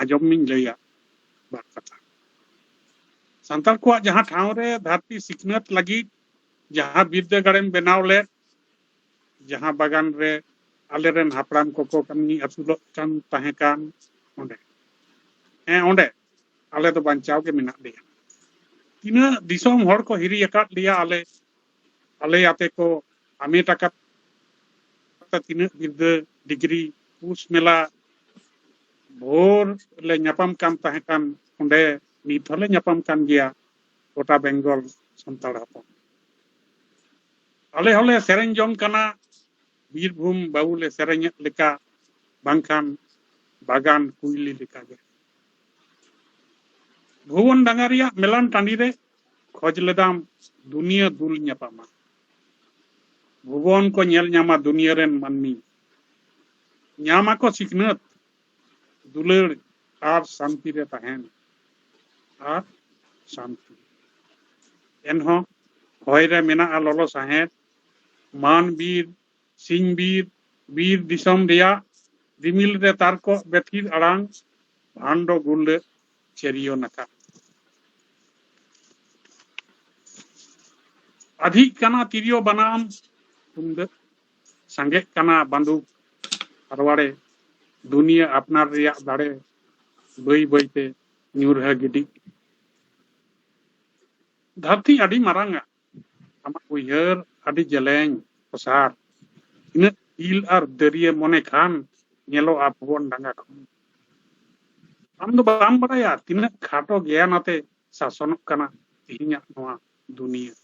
ᱟᱸᱡᱚᱢ ᱢᱮᱧ ᱞᱟᱹᱭᱟ ᱵᱟᱨ ᱠᱟᱛᱷᱟ ᱥᱟᱱᱛᱟᱲ ᱠᱚᱣᱟᱜ ᱡᱟᱦᱟᱸ ᱴᱷᱟᱶ ᱨᱮ ᱫᱷᱟᱹᱨᱛᱤ ᱥᱤᱠᱷᱱᱟᱹᱛ ᱞᱟᱹᱜᱤᱫ ᱡᱟᱦᱟᱸ ᱵᱤᱨᱫᱟᱹᱜᱟᱲᱮᱢ ᱵᱮᱱᱟᱣ ᱞᱮᱫ ᱡᱟᱦᱟᱸ ᱵᱟᱜᱟᱱ ᱨᱮ ᱟᱞᱮᱨᱮᱱ ᱦᱟᱯᱲᱟᱢ ᱠᱚᱠᱚ ᱠᱟᱹᱢᱤ ᱟᱹᱥᱩᱞᱚᱜ ᱠᱟᱱ ᱛᱟᱦᱮᱸ ᱠᱟᱱ ᱚᱸᱰᱮ ᱦᱮᱸ ᱚᱸᱰᱮ ᱟᱞᱮ ᱫᱚ ᱵᱟᱧᱪᱟᱣ ᱜᱮ ᱢᱮᱱᱟᱜ ᱞᱮᱭᱟ ᱛᱤᱱᱟᱹᱜ ᱫᱤᱥᱚᱢ ᱦᱚᱲ ᱠᱚ ᱦᱤᱨᱤ ᱟᱠᱟᱫ ᱞᱮᱭᱟ ᱟᱞᱮ ᱵᱷᱟᱞᱮ ᱟᱛᱮ ᱠᱚ ᱦᱟᱢᱮᱴ ᱟᱠᱟᱫᱟ ᱛᱤᱱᱟᱹᱜ ᱵᱤᱨᱫᱟᱹ ᱰᱤᱜᱽᱨᱤ ᱯᱩᱥ ᱢᱮᱞᱟ ᱵᱷᱳᱨ ᱞᱮ ᱧᱟᱯᱟᱢ ᱠᱟᱱ ᱛᱟᱦᱮᱸ ᱠᱟᱱ ᱚᱸᱰᱮ ᱱᱤᱛ ᱦᱚᱸᱞᱮ ᱧᱟᱯᱟᱢ ᱠᱟᱱ ᱜᱮᱭᱟ ᱜᱚᱴᱟ ᱵᱮᱝᱜᱚᱞ ᱥᱟᱱᱛᱟᱲ ᱦᱚᱯᱚᱱ ᱟᱞᱮ ᱦᱚᱸᱞᱮ ᱥᱮᱨᱮᱧ ᱡᱚᱝ ᱠᱟᱱᱟ ᱵᱤᱨᱵᱷᱩᱢ ᱵᱟᱹᱵᱩ ᱞᱮ ᱥᱮᱨᱮᱧᱮᱫ ᱞᱮᱠᱟ ᱵᱟᱝᱠᱷᱟᱱ ᱵᱟᱜᱟᱱ ᱠᱩᱭᱞᱤ ᱞᱮᱠᱟᱜᱮ ᱵᱷᱩᱵᱚᱱ ᱰᱟᱸᱜᱟ ᱨᱮᱭᱟᱜ ᱢᱮᱞᱟᱱ ᱴᱟᱺᱰᱤ ᱨᱮ ᱠᱷᱚᱡᱽ ᱞᱮᱫᱟᱢ ᱫᱩᱱᱤᱭᱟᱹ ᱫᱩᱞ ᱧᱟᱯᱟᱢᱟ᱾ ᱵᱷᱩᱵᱚᱱ ᱠᱚ ᱧᱮᱞ ᱧᱟᱢᱟ ᱫᱩᱱᱤᱭᱟᱹ ᱨᱮᱱ ᱢᱟᱹᱱᱢᱤ᱾ ᱧᱟᱢ ᱟᱠᱚ ᱥᱤᱠᱷᱱᱟᱹᱛ, ᱫᱩᱞᱟᱹᱲ ᱟᱨ ᱥᱟᱱᱛᱤ ᱨᱮ ᱛᱟᱦᱮᱱ ᱟᱨ ᱥᱟᱱᱛᱤ᱾ ᱮᱱᱦᱚᱸ ᱦᱚᱭ ᱨᱮ ᱢᱮᱱᱟᱜᱼᱟ ᱞᱚᱞᱚ ᱥᱟᱦᱮᱸᱫ᱾ ᱢᱟᱱ ᱵᱤᱨ, ᱥᱤᱧ ᱵᱤᱨ, ᱵᱤᱨ ᱫᱤᱥᱚᱢ ᱨᱮᱭᱟᱜ ᱨᱤᱢᱤᱞ ᱨᱮ ᱛᱟᱨᱠᱚᱜ ᱵᱮᱛᱷᱤᱨ ᱟᱲᱟᱝ᱾ ᱵᱷᱟᱱᱰᱚ ᱜᱩᱨᱞᱟᱹᱜ ᱪᱟᱹᱨᱤᱭᱚ ᱱᱟᱠᱟ ᱟᱫᱷᱤᱜ ᱠᱟᱱᱟ ᱛᱤᱨᱭᱳ ᱵᱟᱱᱟᱢ ᱛᱩᱢᱫᱟᱹᱜ ᱥᱟᱸᱜᱮᱜ ᱠᱟᱱᱟ ᱵᱟᱱᱫᱩᱠ ᱟᱨᱣᱟᱲᱮ ᱫᱩᱱᱤᱭᱟᱹ ᱟᱯᱱᱟᱨ ᱨᱮᱭᱟᱜ ᱫᱟᱲᱮ ᱵᱟᱹᱭ ᱵᱟᱹᱭᱛᱮ ᱧᱩᱨᱦᱟᱹ ᱜᱤᱰᱤᱜ ᱫᱷᱟᱹᱨᱛᱤ ᱟᱹᱰᱤ ᱢᱟᱨᱟᱝᱟ ᱟᱢᱟᱜ ᱩᱭᱦᱟᱹᱨ ᱟᱹᱰᱤ ᱡᱮᱞᱮᱧ ᱚᱥᱟᱨ ᱛᱤᱱᱟᱹᱜ ᱤᱞ ᱟᱨ ᱫᱟᱹᱨᱭᱟᱹ ᱢᱚᱱᱮ ᱠᱷᱟᱱ ᱧᱮᱞᱚᱜᱼᱟ ᱵᱷᱩᱵᱚᱱ ᱰᱟᱸᱜᱟ ᱠᱷᱚᱱ ᱟᱢ ᱫᱚ ᱵᱟᱢ ᱵᱟᱲᱟᱭᱟ ᱛᱤᱱᱟᱹᱜ ᱠᱷᱟᱴᱚ ᱜᱮᱭᱟᱱ ᱟᱛᱮ ᱥᱟᱥᱚᱱᱚᱜ ᱠᱟᱱᱟ ᱛᱮᱦᱮᱧᱟᱜ ᱱᱚᱣᱟ ᱫᱩᱱᱤᱭᱟᱹ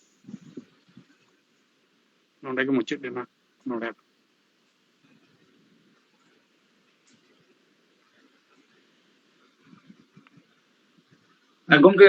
ᱱᱚᱰᱮ ᱜᱮ ᱢᱩᱪᱟᱹᱫ ᱮᱱᱟ ᱱᱚᱰᱮ ᱜᱚᱝᱠᱮ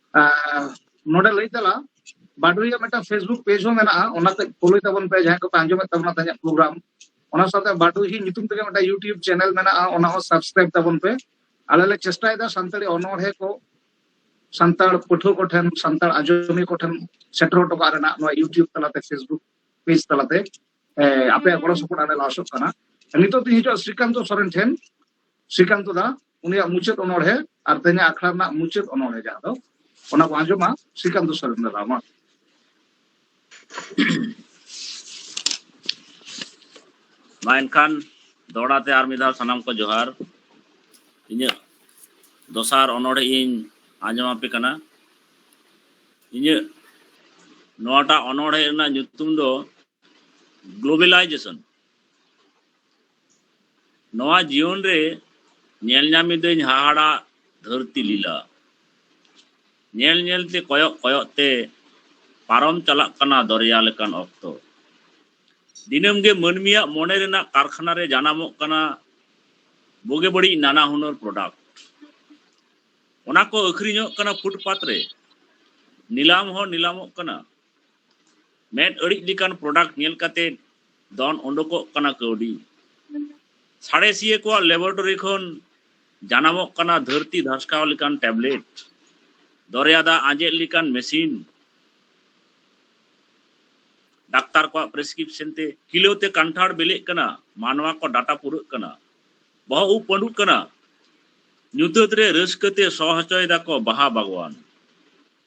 ᱱᱚᱰᱮ ᱞᱟᱹᱭ ᱛᱟᱞᱟ ᱵᱟᱰᱩᱭᱟ ᱢᱤᱫᱴᱟᱝ ᱯᱷᱮᱥᱵᱩᱠ ᱯᱮᱡᱽ ᱦᱚᱸ ᱢᱮᱱᱟᱜᱼᱟ ᱚᱱᱟᱛᱮ ᱯᱷᱚᱞᱳᱭ ᱛᱟᱵᱚᱱ ᱯᱮ ᱡᱟᱦᱟᱸᱭ ᱠᱚᱯᱮ ᱟᱸᱡᱚᱢᱮᱫ ᱛᱟᱵᱚᱱᱟ ᱛᱮᱦᱮᱧᱟᱜ ᱯᱨᱳᱜᱨᱟᱢ ᱚᱱᱟ ᱥᱟᱶᱛᱮ ᱵᱟᱰᱩᱦᱤ ᱧᱩᱛᱩᱢ ᱛᱮᱜᱮ ᱢᱤᱫᱴᱟᱝ ᱤᱭᱩᱴᱤᱭᱩᱵᱽ ᱪᱮᱱᱮᱞ ᱢᱮᱱᱟᱜᱼᱟ ᱚᱱᱟ ᱦᱚᱸ ᱥᱟᱵᱥᱠᱨᱟᱭᱤᱵ ᱛᱟᱵᱚᱱ ᱯᱮ ᱟᱞᱮ ᱞᱮ ᱪᱮᱥᱴᱟᱭᱮᱫᱟ ᱥᱟᱱᱛᱟᱲᱤ ᱚᱱᱚᱬᱦᱮ ᱠᱚ ᱥᱟᱱᱛᱟᱲ ᱯᱟᱹᱴᱷᱩᱣᱟᱹ ᱠᱚ ᱴᱷᱮᱱ ᱥᱟᱱᱛᱟᱲ ᱟᱸᱡᱚᱢᱤᱭᱟᱹ ᱠᱚ ᱴᱷᱮᱱ ᱥᱮᱴᱮᱨ ᱦᱚᱴᱚ ᱠᱟᱜ ᱨᱮᱱᱟᱜ ᱱᱚᱣᱟ ᱤᱭᱩᱴᱤᱭᱩᱵᱽ ᱛᱟᱞᱟᱛᱮ ᱯᱷᱮᱥᱵᱩᱠ ᱯᱮᱡᱽ ᱛᱟᱞᱟᱛᱮ ᱟᱯᱮᱭᱟᱜ ᱜᱚᱲᱚ ᱥᱚᱯᱚᱦᱚᱫ ᱟᱞᱮ ᱞᱮ ᱟᱥᱚᱜ ᱠᱟᱱᱟ ᱱᱤᱛᱚᱜ ᱫᱚᱧ ᱦᱤᱡᱩᱜᱼᱟ ᱥᱨᱤᱠᱟᱱᱛᱚ ᱥᱚᱨᱮᱱ ᱴᱷᱮᱱ ᱥᱨᱤᱠᱟᱱᱛᱚ ᱫᱟ ᱩᱱᱤᱭᱟᱜ ᱢᱩᱪᱟᱹᱫ ᱚᱱᱚᱬᱦᱮ ᱟᱨ ᱛᱮᱦᱮᱧ ᱟᱠᱷᱲᱟ ᱨᱮᱱᱟᱜ ᱢᱩᱪᱟᱹᱫ ᱚᱱᱚᱬᱦᱮ ᱡᱟᱦᱟᱸ ᱫᱚ ᱚᱱᱟ ᱵᱚᱱ ᱟᱸᱡᱚᱢᱟ ᱥᱨᱤᱠᱟᱱᱛᱚ ᱥᱚᱨᱮᱱ ᱫᱟᱫᱟ ᱢᱟ ᱢᱟ ᱮᱱᱠᱷᱟᱱ ᱫᱚᱦᱲᱟ ᱛᱮ ᱟᱨ ᱢᱤᱫ ᱫᱷᱟᱣ ᱥᱟᱱᱟᱢ ᱠᱚ ᱡᱚᱦᱟᱨ ᱤᱧᱟᱹᱜ ᱫᱚᱥᱟᱨ ᱚᱱᱚᱬᱦᱮ ᱤᱧ ᱟᱸᱡᱚᱢ ᱟᱯᱮ ᱠᱟᱱᱟ ᱤᱧᱟᱹᱜ ᱱᱚᱣᱟᱴᱟᱜ ᱚᱱᱚᱬᱦᱮ ᱨᱮᱱᱟᱜ ᱧᱩᱛᱩᱢ ᱫᱚ ᱜᱞᱳᱵᱮᱞᱟᱭᱡᱮᱥᱚᱱ ᱱᱚᱣᱟ ᱡᱤᱭᱚᱱ ᱨᱮ ᱧᱮᱞ ᱧᱟᱢ ᱮᱫᱟᱹᱧ ᱦᱟᱦᱟᱲᱟᱜ ᱫᱷᱟᱹᱨᱛᱤ ᱞᱤᱞᱟ ᱧᱮᱞ ᱧᱮᱞ ᱛᱮ ᱠᱚᱭᱚᱜ ᱠᱚᱭᱚᱜ ᱛᱮ ᱯᱟᱨᱚᱢ ᱪᱟᱞᱟᱜ ᱠᱟᱱᱟ ᱫᱚᱨᱭᱟ ᱞᱮᱠᱟᱱ ᱚᱠᱛᱚ ᱫᱤᱱᱟᱹᱢ ᱜᱮ ᱢᱟᱹᱱᱢᱤᱭᱟᱜ ᱢᱚᱱᱮ ᱨᱮᱱᱟᱜ ᱠᱟᱨᱠᱷᱟᱱᱟ ᱨᱮ ᱡᱟᱱᱟᱢᱚᱜ ᱠᱟᱱᱟ ᱵᱩᱜᱤ ᱵᱟᱹᱲᱤᱡ ᱱᱟᱱᱟ ᱦᱩᱱᱟᱹᱨ ᱯᱨᱚᱰᱟᱠᱴ ᱚᱱᱟ ᱠᱚ ᱟᱹᱠᱷᱨᱤᱧᱚᱜ ᱠᱟᱱᱟ ᱯᱷᱩᱴᱯᱟᱛ ᱨᱮ ᱱᱤᱞᱟᱢ ᱦᱚᱸ ᱱᱤᱞᱟᱢᱚᱜ ᱠᱟᱱᱟ ᱢᱮᱫ ᱟᱹᱲᱤᱡ ᱞᱮᱠᱟᱱ ᱯᱨᱚᱰᱟᱠᱴ ᱧᱮᱞ ᱠᱟᱛᱮ ᱫᱚᱱ ᱚᱰᱚᱠᱚᱜ ᱠᱟᱱᱟ ᱠᱟᱹᱣᱰᱤ ᱥᱟᱬᱮᱥᱤᱭᱟᱹ ᱠᱚᱣᱟᱜ ᱞᱮᱵᱚᱨᱮᱴᱚᱨᱤ ᱠᱷᱚᱱ ᱡᱟᱱᱟᱢᱚᱜ ᱠᱟᱱᱟ ᱫᱷᱟᱹᱨᱛᱤ ᱫᱷᱟᱥᱠᱟᱣ ᱞᱮᱠᱟᱱ ᱴᱮᱵᱞᱮᱴ ᱫᱚᱨᱭᱟ ᱫᱟᱜ ᱟᱸᱡᱮᱫ ᱞᱮᱠᱟᱱ ᱢᱮᱥᱤᱱ ᱰᱟᱠᱛᱟᱨ ᱠᱚᱣᱟᱜ ᱯᱨᱮᱥᱠᱨᱤᱯᱥᱚᱱ ᱛᱮ ᱠᱤᱞᱳ ᱛᱮ ᱠᱟᱱᱴᱷᱟᱲ ᱵᱮᱞᱮᱜ ᱠᱟᱱᱟ ᱢᱟᱱᱣᱟ ᱠᱚ ᱰᱟᱴᱟ ᱯᱩᱨᱟᱹᱜ ᱠᱟᱱᱟ ᱵᱚᱦᱚᱜ ᱩᱵ ᱯᱟᱹᱰᱩᱜ ᱠᱟᱱᱟ ᱧᱩᱛᱟᱹᱛ ᱨᱮ ᱨᱟᱹᱥᱠᱟᱹ ᱛᱮ ᱥᱚ ᱦᱚᱪᱚᱭ ᱫᱟᱠᱚ ᱵᱟᱦᱟ ᱵᱟᱜᱽᱣᱟᱱ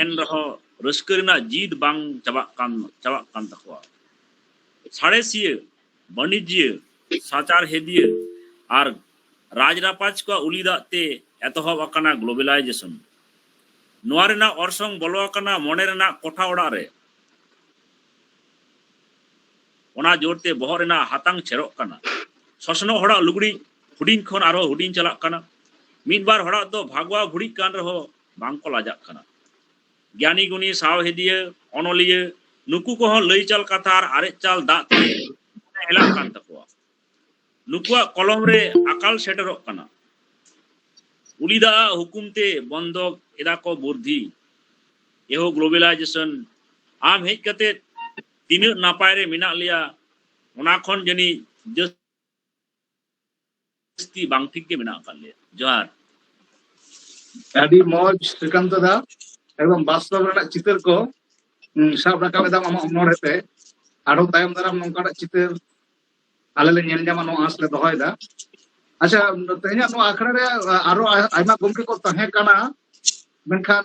ᱮᱱ ᱨᱮᱦᱚᱸ ᱨᱟᱹᱥᱠᱟᱹ ᱨᱮᱱᱟᱜ ᱡᱤᱫ ᱵᱟᱝ ᱪᱟᱵᱟᱜ ᱠᱟᱱ ᱪᱟᱵᱟᱜ ᱠᱟᱱ ᱛᱟᱠᱚᱣᱟ ᱥᱟᱬᱮᱥᱤᱭᱟᱹ ᱵᱟᱹᱱᱤᱡᱽᱭᱟᱹ ᱥᱟᱪᱟᱨᱦᱮᱫᱤᱭᱟᱹ ᱟᱨ ᱨᱟᱡᱽ ᱨᱟᱯᱟᱡᱽ ᱠᱚᱣᱟᱜ ᱩᱞᱤ ᱫᱟᱜ ᱛᱮ ᱮᱛᱚᱦᱚᱵ ᱟᱠᱟᱱᱟ ᱜᱞᱳᱵᱟᱞᱟᱭᱡᱮᱥᱚᱱ ᱱᱚᱣᱟ ᱨᱮᱱᱟᱜ ᱚᱨᱥᱚᱝ ᱵᱚᱞᱚ ᱟᱠᱟᱱᱟ ᱢᱚᱱᱮ ᱨᱮᱱᱟᱜ ᱠᱚᱴᱷᱟ ᱚᱲᱟᱜ ᱨᱮ ᱚᱱᱟ ᱡᱳᱨ ᱛᱮ ᱵᱚᱦᱚᱜ ᱨᱮᱱᱟᱜ ᱦᱟᱛᱟᱝ ᱪᱷᱮᱨᱚᱜ ᱠᱟᱱᱟ ᱥᱚᱥᱱᱚᱜ ᱦᱚᱲᱟᱜ ᱞᱩᱜᱽᱲᱤᱡ ᱦᱩᱰᱤᱧ ᱠᱷᱚᱱ ᱟᱨᱦᱚᱸ ᱦᱩᱰᱤᱧ ᱪᱟᱞᱟᱜ ᱠᱟᱱᱟ ᱢᱤᱫ ᱵᱟᱨ ᱦᱚᱲᱟᱜ ᱫᱚ ᱵᱷᱟᱜᱽᱣᱟ ᱵᱷᱩᱲᱤᱜ ᱠᱟᱱ ᱨᱮᱦᱚᱸ ᱵᱟᱝᱠᱚ ᱞᱟᱡᱟᱜ ᱠᱟᱱᱟ ᱜᱮᱭᱟᱱᱤ ᱜᱩᱱᱤ ᱥᱟᱶᱦᱮᱫᱤᱭᱟᱹ ᱚᱱᱚᱞᱤᱭᱟᱹ ᱱᱩᱠᱩ ᱠᱚᱦᱚᱸ ᱞᱟᱹᱭ ᱪᱟᱞ ᱠᱟᱛᱷᱟ ᱟᱨ ᱟᱨᱮᱡ ᱪᱟᱞ ᱫᱟᱜ ᱛᱮ ᱦᱮᱞᱟᱜ ᱠᱟᱱ ᱛᱟᱠᱚᱣᱟ ᱱᱩᱠᱩᱣᱟᱜ ᱠᱚᱞᱚᱢ ᱨᱮ ᱟᱠᱟᱞ ᱥᱮᱴᱮᱨᱚᱜ ᱠᱟᱱᱟ ᱩᱞᱤ ᱫᱟᱜ ᱦᱩᱠᱩᱢ ᱛᱮ ᱵᱚᱱᱫᱚ ᱮᱫᱟ ᱠᱚ ᱵᱩᱨᱫᱷᱤ ᱮᱦᱚ ᱜᱞᱳᱵᱟᱞᱟᱭᱡᱮᱥᱚᱱ ᱟᱢ ᱦᱮᱡ ᱠᱟᱛᱮ ᱛᱤᱱᱟᱹᱜ ᱱᱟᱯᱟᱭ ᱨᱮ ᱢᱮᱱᱟᱜ ᱞᱮᱭᱟ ᱚᱱᱟ ᱠᱷᱚᱱ ᱡᱟᱹᱱᱤᱡ ᱡᱟᱹᱥᱛᱤ ᱵᱟᱝ ᱴᱷᱤᱠ ᱜᱮ ᱢᱮᱱᱟᱜ ᱟᱠᱟᱫ ᱞᱮᱭᱟ ᱡᱚᱦᱟᱨ ᱟᱹᱰᱤ ᱢᱚᱡᱽ ᱥᱨᱤᱠᱟᱱᱛ ᱫᱟ ᱮᱠᱫᱚᱢ ᱵᱟᱥᱛᱚᱵ ᱨᱮᱱᱟᱜ ᱪᱤᱛᱟᱹᱨ ᱠᱚ ᱥᱟᱵ ᱨᱟᱠᱟᱵ ᱮᱫᱟᱢ ᱟᱢᱟᱜ ᱚᱱᱚᱬᱦᱮ ᱛᱮ ᱟᱨᱦᱚᱸ ᱛᱟᱭᱚᱢ ᱫᱟᱨᱟᱢ ᱱᱚᱝᱠᱟᱱᱟᱜ ᱪᱤᱛᱟᱹᱨ ᱟᱞᱮ ᱞᱮ ᱧᱮᱞ ᱧᱟᱢᱟ ᱱᱚᱣᱟ ᱟᱸᱥ ᱞᱮ ᱫᱚᱦᱚᱭᱮᱫᱟ ᱟᱪᱪᱷᱟ ᱛᱮᱦᱮᱧᱟᱜ ᱱᱚᱣᱟ ᱟᱠᱷᱲᱟ ᱨᱮ ᱟᱨᱦᱚᱸ ᱟᱭᱢᱟ ᱜᱚᱢᱠᱮ ᱠᱚ ᱛᱟᱦᱮᱸ ᱠᱟᱱᱟ ᱢᱮᱱᱠᱷᱟᱱ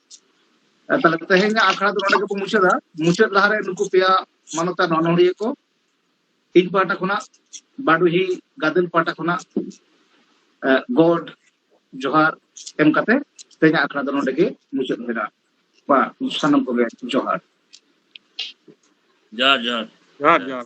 ᱛᱟᱦᱞᱮ ᱛᱮᱦᱮᱧᱟᱜ ᱟᱠᱷᱲᱟ ᱫᱚ ᱱᱚᱰᱮ ᱜᱮᱵᱚ ᱢᱩᱪᱟᱹᱫᱟ ᱢᱩᱪᱟᱹᱫ ᱞᱟᱦᱟᱨᱮ ᱱᱩᱠᱩ ᱯᱮᱭᱟ ᱢᱟᱱᱚᱛᱟᱱ ᱚᱱᱚᱲᱦᱤᱭᱟᱹ ᱠᱚ ᱤᱧ ᱯᱟᱦᱴᱟ ᱠᱷᱚᱱᱟᱜ ᱵᱟᱰᱩᱦᱤ ᱜᱟᱫᱮᱞ ᱯᱟᱦᱴᱟ ᱠᱷᱚᱱᱟᱜ ᱜᱚᱰ ᱡᱚᱦᱟᱨ ᱮᱢ ᱠᱟᱛᱮ ᱛᱮᱦᱮᱧᱟᱜ ᱟᱠᱷᱲᱟ ᱫᱚ ᱱᱚᱰᱮ ᱜᱮ ᱢᱩᱪᱟᱹᱫ ᱢᱮᱱᱟᱜᱼᱟ ᱵᱟ ᱥᱟᱱᱟᱢ ᱠᱚᱜᱮ ᱡᱚᱦᱟᱨ ᱡᱚᱦᱟᱨ ᱡᱚᱦᱟᱨ ᱡᱚᱦᱟᱨ ᱡᱚᱦᱟᱨ